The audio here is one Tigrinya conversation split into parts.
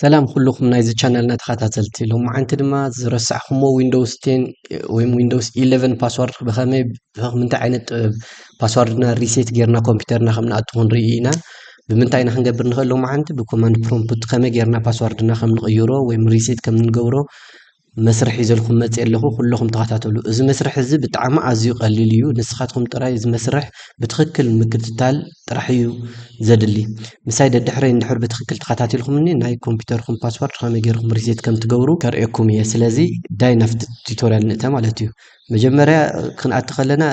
ሰላም ኩልኹም ናይዚ ቻነልና ተኸታተልቲ ሎማዓንቲ ድማ ዝረሳዕኹሞ ዊንዶውስ ቴን ወይም ዊንዶውስ ኢለቨን ፓስዋርድ ብኸመይ ብምንታይ ዓይነት ጥበብ ፓስዋርድና ሪሴት ጌርና ኮምፒውተርና ከም ንኣቱ ክንርኢ ኢና ብምንታይ ኢና ክንገብር ንኽእል ሎማዓንቲ ብኮማንድ ፕሮምፕት ከመይ ጌርና ፓስዋርድና ከም ንቕይሮ ወይም ሪሴት ከም ንገብሮ መስርሕ ሒዘልኩም መፅ ኣለኹ ኩለኹም ተኸታተሉ። እዚ መስርሕ እዚ ብጣዕሚ ኣዝዩ ቀሊል እዩ። ንስኻትኩም ጥራይ እዚ መስርሕ ብትኽክል ምክትታል ጥራሕ እዩ ዘድሊ። ምሳይ ደድሕረይ እንድሕር ብትኽክል ተኸታቲልኩምኒ ናይ ኮምፒውተርኩም ፓስወርድ ከመይ ጌርኩም ሪሴት ከም ትገብሩ ከርእየኩም እየ። ስለዚ ዳይ ናብቲ ቱቶሪያል ንእተ ማለት እዩ። መጀመርያ ክንኣቲ ከለና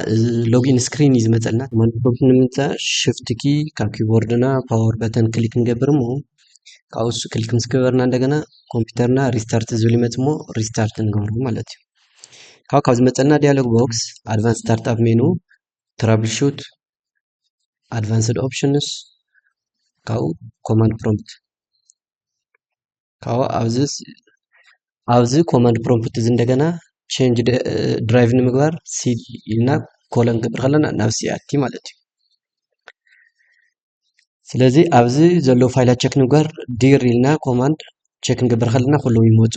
ሎጊን ስክሪን እዩ ዝመፀልና። ማንኮብ ንምምፃእ ሽፍት ኪ ካብ ኪቦርድና ፓወር በተን ክሊክ ንገብር እሞ ካብኡ ንሱ ክሊክ ምስ ገበርና እንደገና ኮምፒተርና ሪስታርት ዝብል ይመፅእ እሞ ሪስታርት ንገብሮ ማለት እዩ ካብ ካብ ዝመፀና ዲያሎግ ቦክስ ኣድቫንስ ስታርት ኣፕ ሜኑ ትራብል ሹት ኣድቫንስድ ኦፕሽንስ ካብኡ ኮማንድ ፕሮምፕት ካብኡ ኣብዚ ኣብዚ ኮማንድ ፕሮምፕት እዚ እንደገና ቼንጅ ድራይቭ ንምግባር ሲ ኢልና ኮለን ክንገብር ከለና ናብ ሲ ኣቲ ማለት እዩ ስለዚ ኣብዚ ዘለዉ ፋይላት ቸክ ንግበር ዲር ኢልና ኮማንድ ቸክ ክንገብር ከለና ኩሎም ይመፁ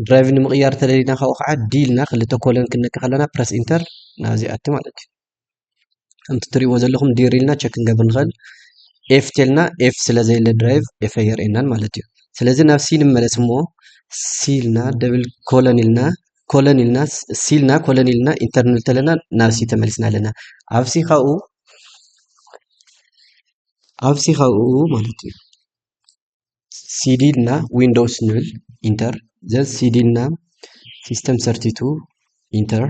ድራይቭ ንምቕያር ተደሊና ካብኡ ከዓ ዲ ኢልና ክልተ ኮለን ክንነክ ከለና ፕረስ ኢንተር ናብዚ ኣቲ ማለት እዩ ከምቲ ትሪእዎ ዘለኹም ዲር ኢልና ቸክ ክንገብር ንኽእል ኤፍ ቴልና ኤፍ ስለ ዘየለ ድራይቭ ኤፍ ኣየርእየናን ማለት እዩ ስለዚ ናብ ሲ ንመለስ እሞ ሲ ኢልና ደብል ኮለን ኢልና ኮለን ኢልና ሲልና ኮለን ኢልና ኢንተር ንብል ተለና ናብ ሲ ተመሊስና ኣለና ኣብ ሲ ካብኡ ኣብ ሲ ካብኡ ማለት እዩ ሲዲ ኢልና ዊንዶውስ ንብል ኢንተር ዘን ሲዲ ኢልና ሲስተም ሰርቲቱ ኢንተር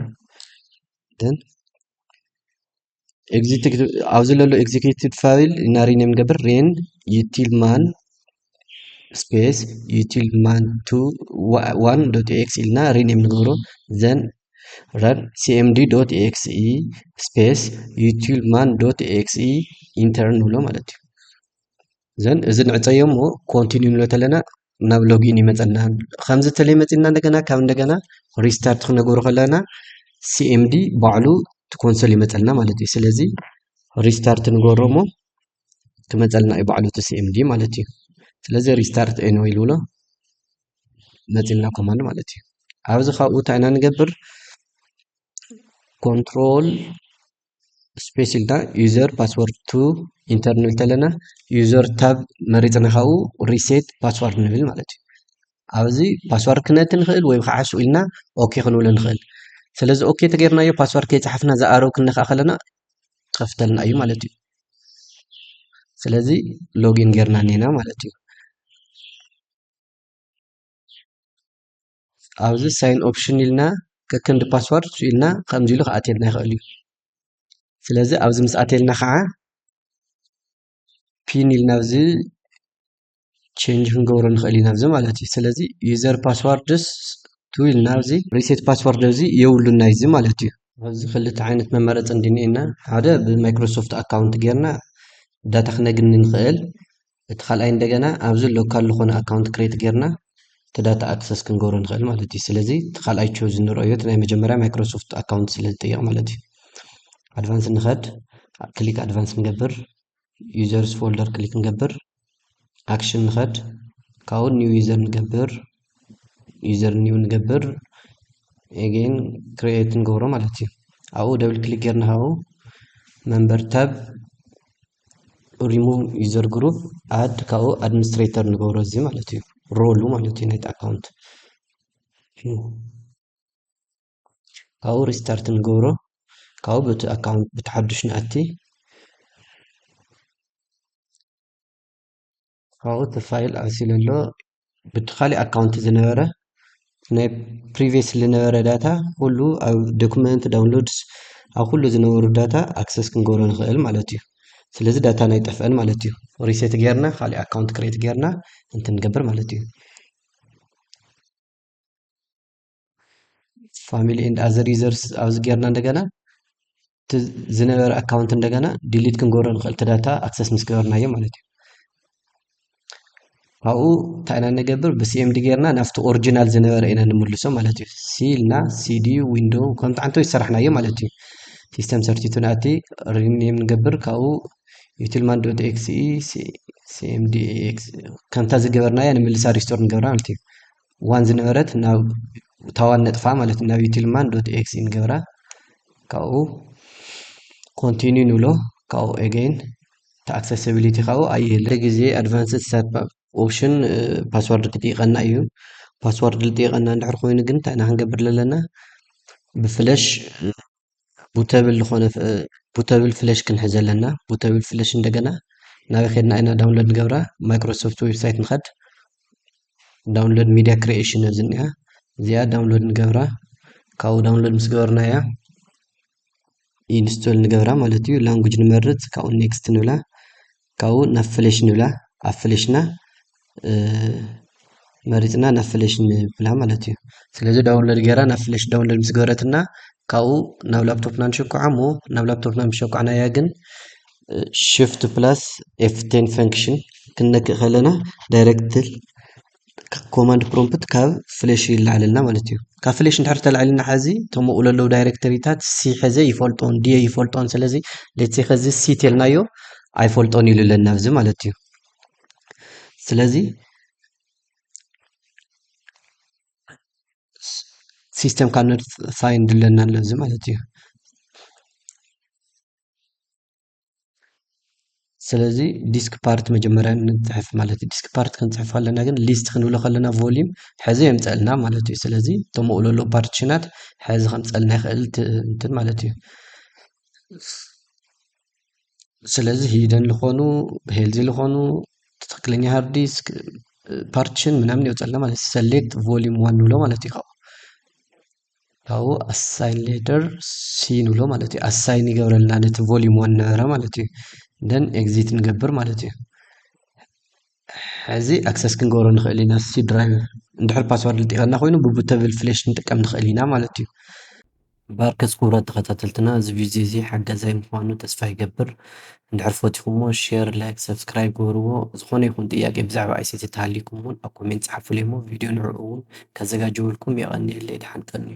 ደን ኣብዚ ለሎ ኤግዚኪቲቭ ፋይል እና ሪኔም ገብር ሬን ዩቲል ማን ስፔስ ዩቲል ማን ቱ ዋን ዶት ኤክስ ኢልና ሪኔም ንገብሮ ዘን ረን ሲኤምዲ ዶት ኤክስ ኢ ስፔስ ዩቲል ማን ዶት ኤክስ ኢ ኢንተር ንብሎ ማለት እዩ ዘን እዚ ንዕፀዮ እሞ ኮንቲኒው ንብሎ ተለና ናብ ሎጊን ይመፀና ከምዚ ተለይ መፂና እንደገና ካብ እንደገና ሪስታርት ክነገሩ ከለና ሲኤምዲ ባዕሉ ኮንሶል ይመፀልና ማለት እዩ ስለዚ ሪስታርት ንገሮ እሞ ክመፀልና እዩ ባዕሉ እቲ ሲኤምዲ ማለት እዩ ስለዚ ሪስታርት ኤኖ ይልብሎ መፂልና ኮማንድ ማለት እዩ ኣብዚ ካብኡ እንታይ ኢና ንገብር ኮንትሮል ስፔስ ኢልና ዩዘር ፓስወርድ ቱ ኢንተር ንብል ተለና ዩዘር ታብ መሪፅና ካብኡ ሪሴት ፓስዋርድ ንብል ማለት እዩ ኣብዚ ፓስዋርድ ክነቲ ንኽእል ወይ ከዓ ሱ ኢልና ኦኬ ክንብሎ ንኽእል ስለዚ ኦኬ ተገይርናዮ ፓስዋርድ ከይፀሓፍና ዝኣረው ክንነካ ከለና ከፍተልና እዩ ማለት እዩ ስለዚ ሎጊን ገይርና እኒና ማለት እዩ ኣብዚ ሳይን ኦፕሽን ኢልና ከክንዲ ፓስዋርድ ኢልና ከምዚ ኢሉ ክኣትየልና ይኽእል እዩ ስለዚ ኣብዚ ምስ ኣትየልና ከዓ ፒን ኢልና ኣብዚ ቼንጅ ክንገብሮ ንኽእል ኢና ኣብዚ ማለት እዩ ስለዚ ዩዘር ፓስዋርድስ ቱ ኢልና ኣብዚ ሪሴት ፓስዋርድ እዚ የብሉና እዚ ማለት እዩ ኣብዚ ክልተ ዓይነት መመረፂ እንድኒኤና ሓደ ብማይክሮሶፍት ኣካውንት ጌርና ዳታ ክነግኒ ንኽእል እቲ ካልኣይ እንደገና ኣብዚ ሎካል ዝኾነ ኣካውንት ክሬት ጌርና እቲ ዳታ ኣክሰስ ክንገብሮ ንኽእል ማለት እዩ ስለዚ እቲ ካልኣይ ቾዝ ንረኦዮ እቲ ናይ መጀመርያ ማይክሮሶፍት ኣካውንት ስለ ዝጠየቕ ማለት እዩ ኣድቫንስ ንኸድ ክሊክ ኣድቫንስ ንገብር ዩዘርስ ፎልደር ክሊክ ንገብር ኣክሽን ንኸድ ካብኡ ኒው ዩዘር ንገብር ዩዘር ኒው ንገብር ኤጌን ክሪኤት ንገብሮ ማለት እዩ ኣብኡ ደብል ክሊክ ጌርና ካብኡ መንበር ታብ ሪሙቭ ዩዘር ግሩፕ ኣድ ካብኡ ኣድሚኒስትሬተር ንገብሮ እዚ ማለት እዩ ሮሉ ማለት እዩ ናይቲ ኣካውንት ካብኡ ሪስታርት ንገብሮ ካብኡ በቲ ኣካውንት ብቲ ሓዱሽ ንኣቲ ኣብኡ እቲ ፋይል ኣሲሉ ኣሎ ብቲ ካሊእ ኣካውንት ዝነበረ ናይ ፕሪቪየስ ዝነበረ ዳታ ኩሉ ኣብ ዶክመንት ዳውንሎድስ ኣብ ኩሉ ዝነበሩ ዳታ ኣክሰስ ክንገብሮ ንኽእል ማለት እዩ ስለዚ ዳታ ናይ ጠፍአን ማለት እዩ ሪሴት ጌርና ካሊእ ኣካውንት ክሬት ጌርና እንትንገብር ማለት እዩ ፋሚሊ ኤንድ ኣዘር ዩዘርስ ኣብዚ ጌርና እንደገና እቲ ዝነበረ ኣካውንት እንደገና ዲሊት ክንገብሮ ንኽእል እቲ ዳታ ኣክሰስ ምስ ገበርናዮ ማለት እዩ ካብኡ እንታይ ኢና ንገብር ብሲኤምዲ ጌርና ናብቲ ኦሪጂናል ዝነበረ ኢና ንምልሶ ማለት እዩ ሲ ኢልና ሲዲ ዊንዶ ከምቲ ዓንተ ዝሰራሕናዮ ማለት እዩ ሲስተም ሰርቲቱ ናቲ ሪኒም ንገብር ካብኡ ዩቲልማን ዶት ኤክስኢ ሲኤምዲ ኤክስ ከምታ ዝገበርናያ ንምልሳ ሪስቶር ንገብራ ማለት እዩ ዋን ዝነበረት ናብ ታዋን ነጥፋ ማለት ናብ ዩቲልማን ዶት ኤክስ ንገብራ ካብኡ ኮንቲኒዩ ንብሎ ካብኡ ኤገይን ተኣክሰሲቢሊቲ ካብኡ ኣይህለ ግዜ ኣድቫንስድ ሰብ ኦፕሽን ፓስዋርድ ክጥይቀና እዩ ፓስዋርድ ልጥይቀና እንድሕር ኮይኑ ግን እንታይ ኢና ክንገብር ዘለና ብፍለሽ ቡተብል ዝኾነ ቡተብል ፍለሽ ክንሕዝ ኣለና። ቡተብል ፍለሽ እንደገና ናበይ ከድና ኢና ዳውንሎድ ንገብራ? ማይክሮሶፍት ዌብሳይት ንኸድ። ዳውንሎድ ሚዲያ ክሪኤሽን ኣብዚ እኒኣ እዚኣ ዳውንሎድ ንገብራ። ካብኡ ዳውንሎድ ምስ ገበርናያ ኢንስቶል ንገብራ ማለት እዩ። ላንጉጅ ንመርፅ፣ ካብኡ ኔክስት ንብላ። ካብኡ ናብ ፍሌሽ ንብላ ኣብ ፍሌሽና መሪፅና ናብ ፍሌሽ ንብላ ማለት እዩ ስለዚ ዳውንሎድ ገይራ ናብ ፍሌሽ ዳውንሎድ ምስ ገበረትና ካብኡ ናብ ላፕቶፕና ንሸኩዓ እሞ ናብ ላፕቶፕና ምስ ሸኳዕናያ ግን ሽፍት ፕላስ ኤፍ ቴን ፈንክሽን ክንነክእ ከለና ዳይሬክት ኮማንድ ፕሮምፕት ካብ ፍለሽ ይለዓለልና ማለት እዩ ካብ ፍለሽ እንድሕር ተላዒልና ሓዚ እቶም ኣብኡ ዘለዉ ዳይሬክተሪታት ሲ ሕዘ ይፈልጦን ድየ ይፈልጦን ስለዚ ሌትሴ ከዚ ሲ ተልናዮ ኣይፈልጦን ኢሉ ኣለና ኣብዚ ማለት እዩ ስለዚ ሲስተም ካነት ፋይንድ ኣለና ኣለዚ ማለት እዩ ስለዚ ዲስክ ፓርት መጀመርያ ንፅሕፍ ማለት እዩ ዲስክ ፓርት ክንፅሕፍ ከለና ግን ሊስት ክንብሎ ከለና ቮሊዩም ሕዚ የምፀእልና ማለት እዩ ስለዚ እቶም ኣብኡ ዘሎ ፓርቲሽናት ሕዚ ከምፀልና ይኽእል እንትን ማለት እዩ ስለዚ ሂደን ዝኾኑ ሄልዚ ዝኾኑ ትክክለኛ ሃርድ ዲስክ ፓርቲሽን ምናምን ይወፀልና ማለት እዩ ሰሌክት ቮሊዩም ዋን ንብሎ ማለት እዩ ካብኡ ካብኡ ኣሳይን ሌተር ሲ ንብሎ ማለት እዩ ኣሳይን ይገብረልና ነቲ ቮሊዩም ዋን ነበረ ማለት እዩ ደን ኤግዚት ንገብር ማለት እዩ ሕዚ ኣክሰስ ክንገብሮ ንኽእል ኢና ሲ ድራይቭ እንድሕር ፓስዋርድ ልጢቐና ኮይኑ ብቡተብል ፍሌሽ ንጥቀም ንኽእል ኢና ማለት እዩ ባርከስ ክቡራት ተኸታተልትና እዚ ቪድዮ እዚ ሓጋዛይ ምዃኑ ተስፋ ይገብር እንድሕር ፈቲኹሞ ሼር ላይክ ሰብስክራይብ ግበርዎ ዝኾነ ይኹን ጥያቄ ብዛዕባ ኣይሲቲ ተሃሊኩም ውን ኣብ ኮሜንት ጸሓፉለይ እሞ ቪድዮ ንዕኡ ውን ከዘጋጀወልኩም የቀንየለይ ድሓን ቀንዩ።